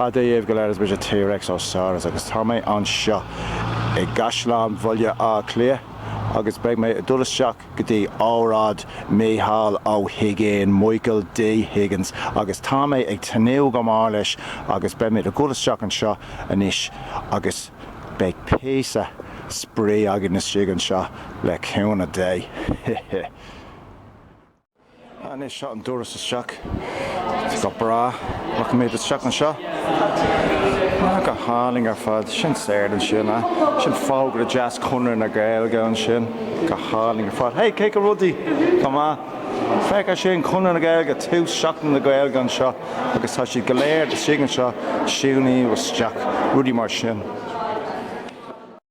Bail ó Dhia oraibh go léir is mise T-Rex Ó Saurus agus tá mé anseo i gCaisleán Bhaile Átha Cliath agus beidh mé ag dul isteach go dtí óráid Micheál Ó hUiginn, Michael D. Higgins, agus tá mé ag tnúth go mór leis agus beidh muid ag dul isteach anseo anois agus beidh píosa spraoi againn istigh anseo le cúnamh Dé. Hé hé. Anois seo an doras isteach. Go breá rachaimid isteach anseo. Go hálainn ar fad. Sin staighre ansin, a? Sin fógra deas Chonradh na Gaeilge ansin. Go hálainn ar fad. Hey, cén chaoi a bhfuil rudaí? Go maith! Féach air sin, Conradh na Gaeilge, tús Seachtain na Gaeilge anseo agus tá siad go léir istigh anseo, síniú isteach, rudaí mar sin.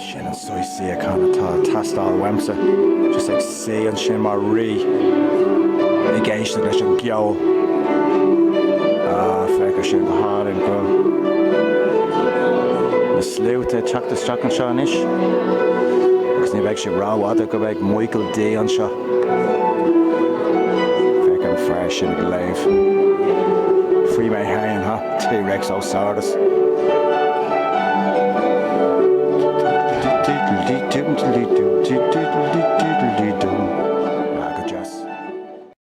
Is sin an saghas suíochán atá ag teastáil uaimse, just ag suí ansin mar rí ag éisteacht leis an gceol. Ah, féach air sin, go hálainn go bhfuil na sluaite ag teacht isteach anseo anois agus ní bheidh sé rófhada go mbeidh Michael D anseo. Féach an fear sin ag léamh faoi mé féin, ha, T-Rex Ó Saurus.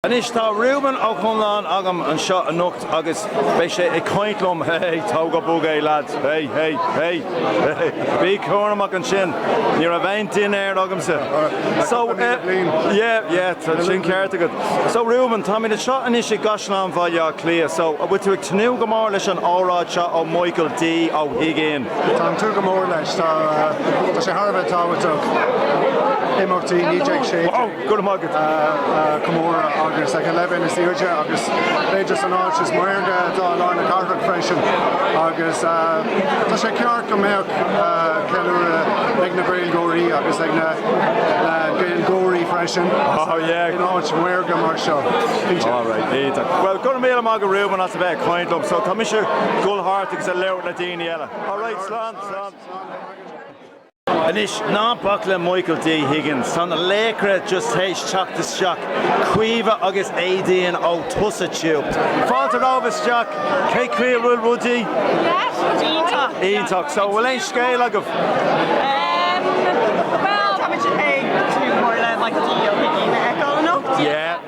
Anois tá Reuben Ó Conluain agam anseo anocht. agus beidh sé ag caint liom, hé, tóg go bog é lads, hé, hé, hé, hé, bí cúramach ansin, ní raibh aon dinnéar agamsa, so eh, yeah, yeah, tá sin ceart agat, so Reuben, táimid anseo anois i gCaisleán Bhaile Átha Cliath, so an bhfuil tú ag tnúth go mór leis an óráid seo ó Mhichael D Ó hUiginn? Tá mé ag tnúth go mór leis, tá sé thar a bheith tábhachtach, imeachtaí 1916. Go raibh maith agat a chomóradh, agus ag an leibhéal is airde agus b'fhéidir san áit is maorga atá i lár na cathrach freisin agus tá sé ceart go mbeadh ceiliúradh ag na Gaeilgeoirí agus ag na Gaeilgeoirí freisin in áit mhaorga mar seo. Bhuel, go raibh míle maith agat Reuben as a bheith ag caint liom, so tá mise ag dul thart agus ag labhairt le daoine eile. Alright, slán! Anois, ná bac le Michael D Higgins, tá na laochra just théis teacht isteach, Caoimhe agus Éadaoin ó TusaTube. Fáilte romhaibh isteach! Cén chaoi a bhfuil rudaí? Iontach! Iontach! So, bhfuil aon scéal agaibh? Ehm, bhuel, tá muid ag tnúth go mór le Michael D Ó hUiginn a fheiceáil anocht. Yeah.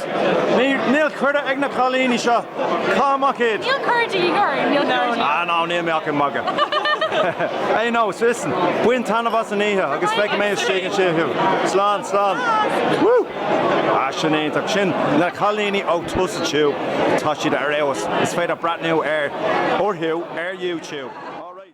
Níl cuireadh ag na cailíní seo. Caith amach iad. Níl cuireadh de dhíth orainn, níl cuireadh de dhíth. Ah no níl mé ach ag magadh. Aye no, listen, bain taitneamh as an oíche agus feicfidh mé istigh ansin thú. Slán, slán. Woo! Ah sin iontach. Sin na cailíní ó Tusa Tube. Tá siad ar fheabhas. Is féidir breathnú ar, orthu, ar YouTube. Alright.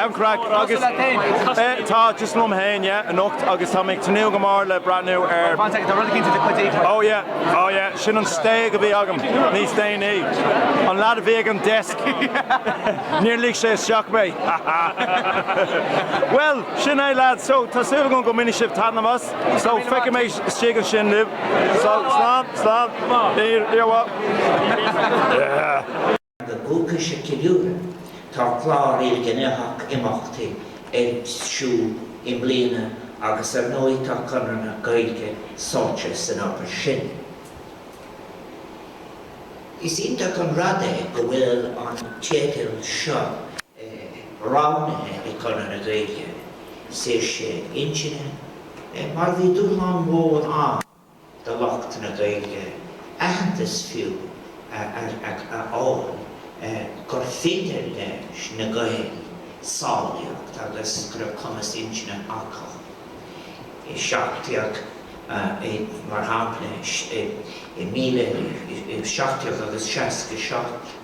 Am craic agus eh tá just liom fhéin yeah anocht agus tá mé ag tnúth go mór le breathnú ar oh yeah oh yeah sin an stéig a bhí agam níos déanaí an lad a bhí ag an desk níor lig sé isteach mé ha ha well sin é lads so tá súil agam go mbainfidh sibh taitneamh as. So, feicfidh mé istigh ansin sibh. Slán, slán, slán. Níl, níor mhaith. Yeah! Agus é á cheiliúradh, tá clár ilghnéitheach imeachtaí ar siúl i mbliana agus ar ndóigh tá Conradh na Gaeilge sáite san obair sin. Is iontach an rud é go bhfuil an teideal seo roghnaithe ag Conradh na Gaeilge. is é sin, intinne, mar bhí dúshlán mhór ann do lucht na Gaeilge aitheantas fiú a fháil gurbh fhéidir leis na Gaeil samhlaíocht agus go raibh cumas intinne acu. I 1700, mar shampla, 1767.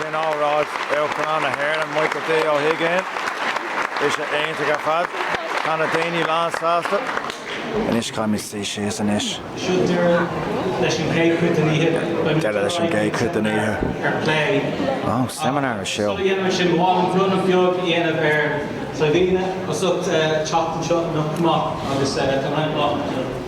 Sin óráid Uachtarán na hÉireann, Michael D. Ó hUiginn. Bhí sé iontach ar fad. Tá na daoine lán sásta. Anois caithfimid suí síos anois.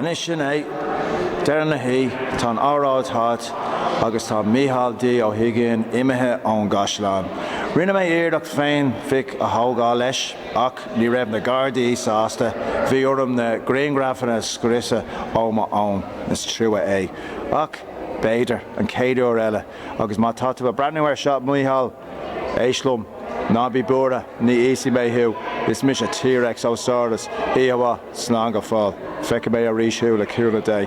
Anois sin é deireadh na hoí', tá an óráid thart agus tá Mícheál D Ó hUiginn imithe ón gCaisleán. Rinne mé iarracht féinphic a thógáil leis ach ní raibh na Gardaí sásta, bhí orm na grianghrafanna a scriosadh ó mo fhón, is trua é. Ach b'fhéidir an chéad uair eile agus má tá tú ag breathnú ar seo, a Mhícheál, Éist liom, ná bí buartha, ní íosfaidh mé thú, is mise T-Rex Ó Saurus, a mhaoin, Slán go fóill, feicfidh mé arís thú le cúnamh Dé.